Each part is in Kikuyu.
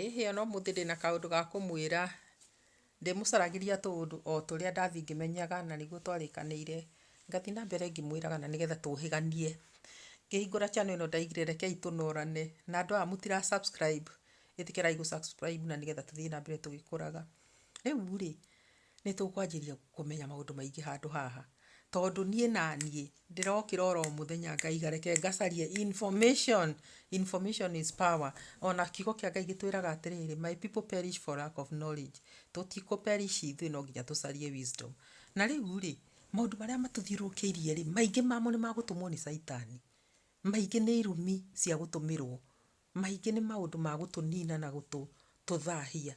Ĩ hĩ ona ũmũthĩ ndĩna kaũndũ ga kũmwĩra, ndĩmũcaragĩria tũũndũ o tũrĩa ndathiĩ ngĩmenyaga na nĩguo twarĩkanĩire, ngathiĩ na mbere ngĩmwĩraga na nĩgetha tũhĩganie. Ngĩhingũra channel ĩno ndaigire rekei tũnorane, na andũ aya mũtira subscribe ĩtĩkĩrai gũ subscribe na nĩgetha tũthiĩ na mbere tũgĩkũraga. Rĩu rĩ, Nĩ tũkwanjĩrĩria kũmenya maũndũ maingĩ handũ haha, tondũ niĩ naniĩ ndĩrokĩra oro mũthenya ngaiga reke ngacarie information, information is power. Ona kiugo kĩa Ngai gĩtwĩraga atĩrĩrĩ, my people perish for lack of knowledge. Tũtikũ perish ithuĩ no nginya tũcarie wisdom. Na rĩu rĩ, maũndũ marĩa matũthiũrũrũkĩirie rĩ, maingĩ mamo nĩ magũtũmwo nĩ caitani. Maingĩ nĩ irumi cia gũtũmĩrwo. Mahingĩ nĩ maũndũ ma gũtũnina na gũtũthahia.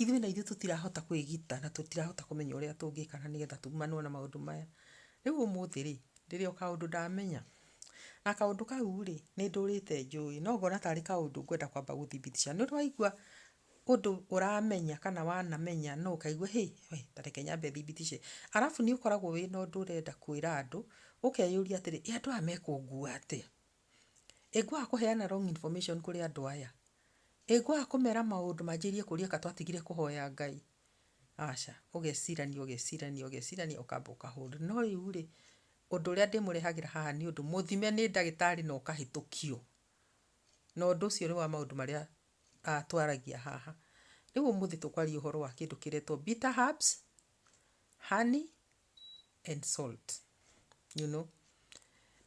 Ithuĩ na ithuĩ tũtirahota kwĩgita na tũtirahota kũmenya ũrĩa tũngĩka na nĩgetha tumanwo na maũndũ maya. Rĩu ũmũthĩ rĩ, ndĩrĩ o kaũndũ ndamenya. Na kaũndũ kau rĩ, nĩ ndũrĩte njũĩ. No ngona tarĩ kaũndũ ngwenda kwamba gũthibitisha. Nĩ waigua ũndũ ũramenya kana wanamenya no ũkaigua hĩ, we, ta reke nyambe thibitishe. Arabu nĩ ũkoragwo wĩna ũndũ ũrenda kwĩra andũ, ũkeyũria atĩrĩ, ĩ andũ aya mekũngua atĩa? Ĩ ngwaga kũheana wrong information kũrĩ andũ aya? Ĩ ngwaga kũmera maũndũ manjĩrĩrie kũria kana twatigire kũhoya Ngai? Aca, ũgecirania ũgecirania ũgecirania ũkamba ũkahũrwo. No rĩu rĩ, ũndũ ũrĩa ndĩmũrehagĩra haha nĩ ũndũ mũthime nĩ ndagĩtarĩ na ũkahĩtũkio. Na ũndũ ũcio nĩ wa maũndũ marĩa twaragia haha. Rĩu ũmũthĩ tũkwaria ũhoro wa kĩndũ kĩretwo bitter herbs, honey and salt you know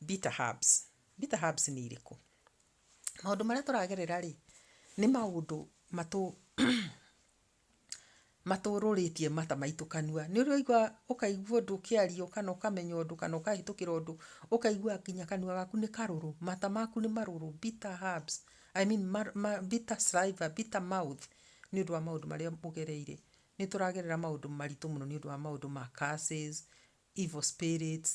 bitter herbs bitter herbs nĩ irĩkũ maũndũ marĩa tũragerera rĩ nĩ maũndũ matũ matũrũrĩtie mata maitũ kanua nĩ ũrĩ waigua ũkaigua ũndũ ũkĩario kana ũkamenya ũndũ kana ũkahĩtũkĩra ũndũ ũkaigua nginya kanua gaku nĩ karũrũ mata maku nĩ marũrũ bitter herbs I mean ma, ma, bitter saliva, bitter mouth nĩ ũndũ wa maũndũ marĩa ũgereire Nĩ tũragerera maũndũ maritũ mũno nĩ ũndũ wa maũndũ ma curses, evil spirits,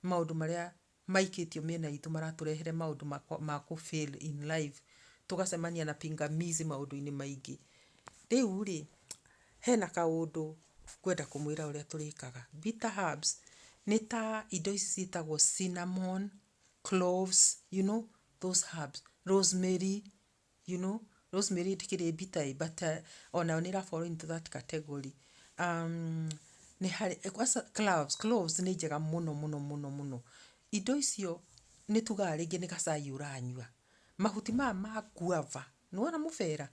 maũndũ marĩa maikĩtio mĩena itũ maratũrehere maũndũ ma kũ fail in life, tũgacemania na pingamizi maũndũ-inĩ maingĩ. Rĩu rĩ, hena kaũndũ ngwenda kũmwĩra ũrĩa tũrĩkaga. Bitter herbs nĩ ta indo ici ciĩtagwo cinnamon, cloves, you know those herbs, rosemary, You know, Rosemary ndĩkĩrĩ bitter but onayo nĩ ĩra fall into that category. Um, nĩ harĩ, kwanza cloves, cloves nĩ njega mũno mũno mũno mũno. Indo icio nĩ tugaga rĩngĩ nĩ gacai ũranyua. Mahuti maya ma guava, nĩ wona mũbera?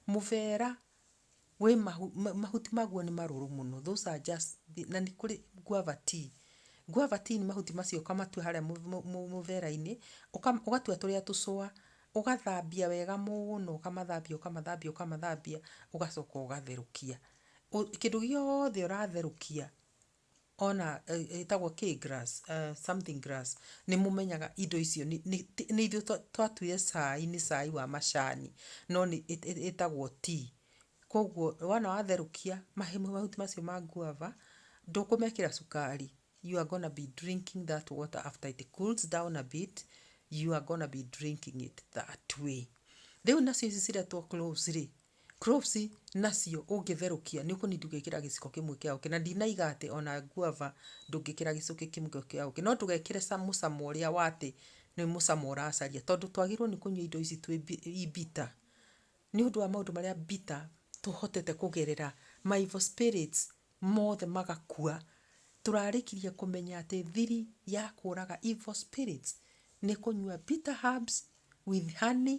Mũbera Wĩ mahuti maguo nĩ marũrũ mũno those are just na nĩ kũrĩ guava tea. Guava tea nĩ mahuti macio ũkamatua harĩa mũmera-inĩ ũgatua tũrĩa tũcũa ũgathambia wega mũno ũkamathambia ũkamathambia ũkamathambia ũgacoka ũgatherũkia. Kĩndũ gĩothe ũratherũkia ona ĩtagwo kĩĩ grass something grass nĩ mũmenyaga indo icio nĩ ithuĩ twatuire cai nĩ cai wa macani no nĩ ĩtagwo tea. Koguo wona watherũkia mahuti macio ma guava ndũkũmekĩra cukari you are gonna be drinking that water after it cools down a bit you are gonna be drinking it that way. Rĩu nacio ici ciretwo cloves rĩ Cloves nacio ũngĩtherũkia nĩ ũkũnindi ũgĩkĩra gĩciko kĩmwe kĩa ũkĩ, na ndinaiga atĩ ona guava ndũngĩkĩra gĩcũkĩ kĩmwe kĩa ũkĩ, no ndũgekĩre ca mũcamo ũrĩa wa atĩ nĩ mũcamo ũracaria, tondũ twagĩrĩirwo nĩ kũnyua indo ici twĩ mbi i bitter, nĩ ũndũ wa maũndũ marĩa bitter tũhotete kũgerera, ma evil spirits mothe magakua, tũrarĩkirie kũmenya atĩ thiri ya kũraga evil spirits nĩ kũnyua bitter herbs with honey.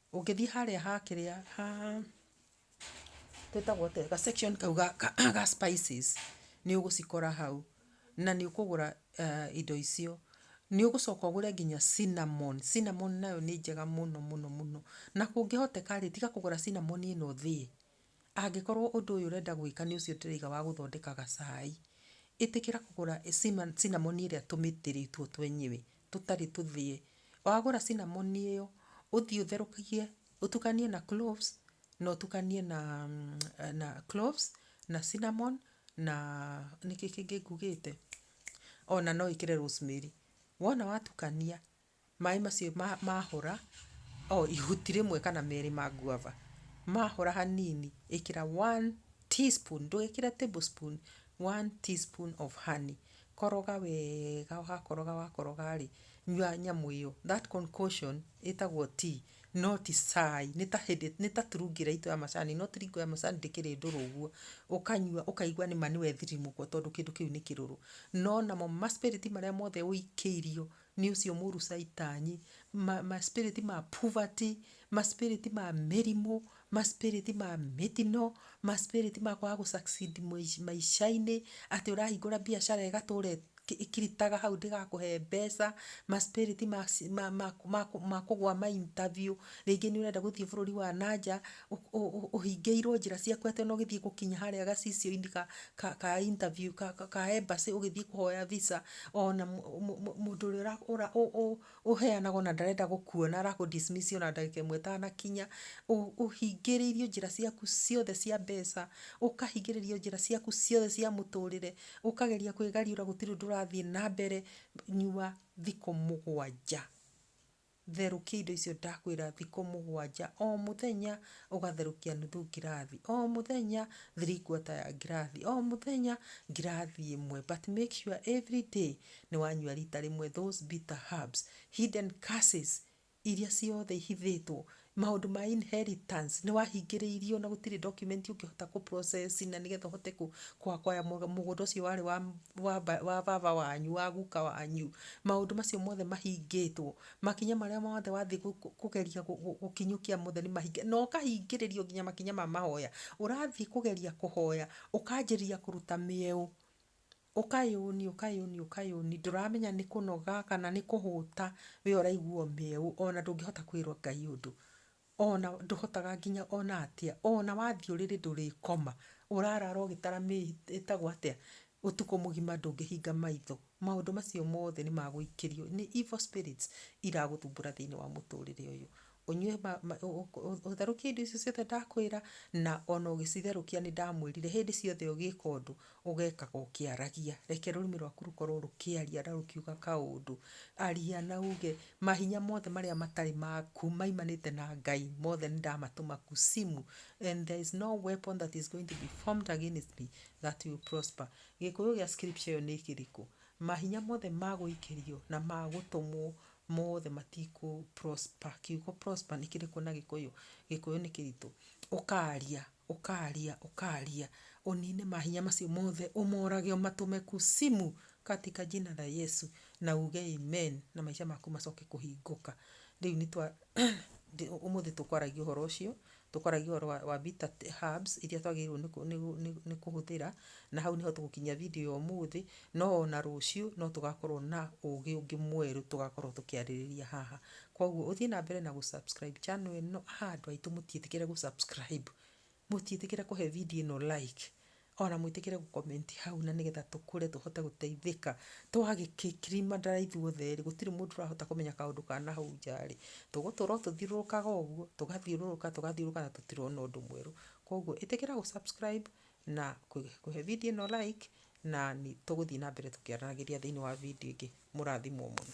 Ũngĩthiĩ harĩa ha kĩrĩa ha ĩtagwo atĩa ga section kau ga spices nĩ ũgũcikora hau na nĩ ũkũgũra indo icio. Nĩ ũgũcoka ũgũre nginya cinnamon. Cinnamon nayo nĩ njega mũno mũno. Na kũngĩhoteka rĩ, tiga kũgũra cinnamon ĩno thĩe. Angĩkorwo ũndũ ũyũ ũrenda gwĩka nĩ ũcio ndĩraiga wa gũthondeka gacai, ĩtĩkĩra kũgũra cinnamon ĩrĩa tũmĩtĩ rĩtwo twenyewe tũtarĩ tũthĩe. Wagũra cinnamon ĩyo, ũthiĩ ũtherũkie, ũtukanie na cloves na ũtukanie na na cloves na cinnamon na nĩkĩ kĩngĩ ngugĩte? O na no wĩkĩre rosemary. Wona watukania. Maĩ macio mahora, o ihuti rĩmwe kana merĩ ma guava, mahora hanini ĩkĩra one tea spoon, ndũgekĩre table spoon, one tea spoon of honey. Koroga wega wakoroga wakoroga rĩ, nyua nyamũ ĩyo, that concoction ĩtagwo tea, no ti cai. Nĩ ta hĩndĩ, nĩ ta turungi ĩrĩa itũ ya macani, no turungi ya macani ndĩkĩrĩ ndũrũ ũguo. Ũkanyua ũkaigua nĩ ma nĩ wethirimũkwo tondũ kĩndũ kĩu nĩ kĩrũrũ. No namo ma spirit marĩa mothe ũikĩirio Nĩ ũcio mũru caitani. Ma spirit ma poverty, ma spirit ma mĩrimũ, ma spirit ma mĩtino, ma spirit ma kwaga gũ succeed maica-inĩ, atĩ ũrahingũra biacara ĩgatũra ĩkiritaga hau ndĩgakũhe mbeca, ma spirit ma kũgũa ma interview, rĩngĩ nĩ ũrenda gũthiĩ bũrũri wa na nja. ũhingĩirwo njĩra ciaku atĩ ona ũgĩthiĩ gũkinya harĩa gacicio-inĩ ka interview ka embassy ũgĩthiĩ kũhoya visa ona mũndũ ũrĩa ũheanaga ona ndarenda gũkuona arakũ dismiss ona ndagĩka ĩmwe ĩtanakinya. Ũhingĩrĩirio njĩra ciaku ciothe cia mbeca, ũkahingĩrĩrio njĩra ciaku ciothe cia mũtũrĩre, ũkageria kwĩgariũra gũtirĩ ũndũ ũrathiĩ na mbere, nyua thikũ mũgwanja. Therũkia indo icio ndakwĩra thikũ mũgwanja, o mũthenya ũgatherũkia nuthu ngirathi, o mũthenya three quarter ya ngirathi, o mũthenya ngirathi ĩmwe but make sure every day nĩ wanyua rita rĩmwe those bitter herbs, hidden curses iria ciothe ihithĩtwo Maũndũ ma inheritance nĩ wahingĩrĩirio na gũtirĩ document ũngĩhota kũ process na nĩgetha ũhote kũ acquire mũgũnda ũcio warĩ wa baba wanyu, wa guka wanyu. Maũndũ macio mothe mahingĩtwo. Makinya marĩa mothe wathiĩ kũgeria gũkinyũkia mothe nĩ mahinge. Na ũkahingĩrĩrio nginya makinya ma mahoya. Ũrathiĩ kũgeria kũhoya, ũkanjĩrĩria kũruta mĩeũ. Ũkayũni, ũkayũni, ũkayũni, ndũramenya nĩ kũnoga kana nĩ kũhũta we ũraigua ũmĩeũ ona ndũngĩhota kwĩrwo Ngai ũndũ. Ona ndũhotaga nginya ona atĩa, ona wathiĩ ũrĩrĩ ndũrĩkoma, ũrarara ũgĩtara ĩtagwo atĩa, ũtukũ mũgima ndũngĩhinga maitho. Maũndũ macio mothe nĩ ma gũikĩrio, nĩ evil spirits iragũthumbũra thĩinĩ wa mũtũrĩre ũyũ. ũnyue ũtherũkie indo icio ciothe ndakwĩra na ona ũgĩcitherũkia nĩ ndamwĩrire hĩndĩ ciothe ũgĩka ũndũ ũgekaga ũkĩaragia reke rũrĩmĩ rwaku rũkorwo rũkĩaria na rũkiuga kaũndũ aria na uge mahinya mothe marĩa matarĩ maku maimanĩte na Ngai mothe nĩ ndamatũma kuzimu and there is no weapon that is going to be formed against me that will prosper gĩkũyũ gĩa scripture ĩyo nĩ kĩrĩkũ? mahinya mothe magũikĩrio na magũtũmwo mothe matikũ prosper. Kiugo prosper nĩ kĩrĩkũ na Gĩkũyũ? Gĩkũyũ nĩ kĩritũ. Ũkaaria, ũkaaria, ũkaaria, ũniine mahinya macio mothe, ũmorage, ũmatũme kusimu katika jina la Yesu, na uuge Amen, na maica maku macoke kũhingũka. Rĩu nĩ twa, ũmũthĩ tũkwaragia ũhoro ũcio. Tũkwaragia ũhoro wa, wa bitter herbs iria twagĩrĩirwo nĩ, kũ- nĩ, gũ- nĩ, nĩ kũhũthĩra, na hau nĩho tũgũkinyia video ya ũmũthĩ, no ona rũciũ no tũgakorwo na ũgĩ ũngĩ mwerũ tũgakorwo tũkĩarĩrĩria haha. Koguo ũthiĩ na mbere na gũ subscribe channel ĩno. Haa andũ aitũ mũtiĩtĩkĩre gũ subscribe, mũtiĩtĩkĩre kũhe video ĩno like, Ona mwĩtĩkĩre gũ comment hau na nĩgetha tũkũre tũhote gũteithĩka. Twagĩkĩkirima ndara ithuothe erĩ gũtirĩ mũndũ ũrahota kũmenya kaũndũ ka nahau nja rĩ, tũgũtũra o tũthiũrũrũkaga ũguo, tũgathiũrũrũka tũgathiũrũrũka na tũtirona ũndũ mwerũ. Kwoguo ĩtĩkĩra gũ subscribe na kũhe video ĩno like na nĩ tũgũthiĩ na mbere tũkĩaranagĩria thĩinĩ wa video ĩngĩ. Mũrathimwo mũno.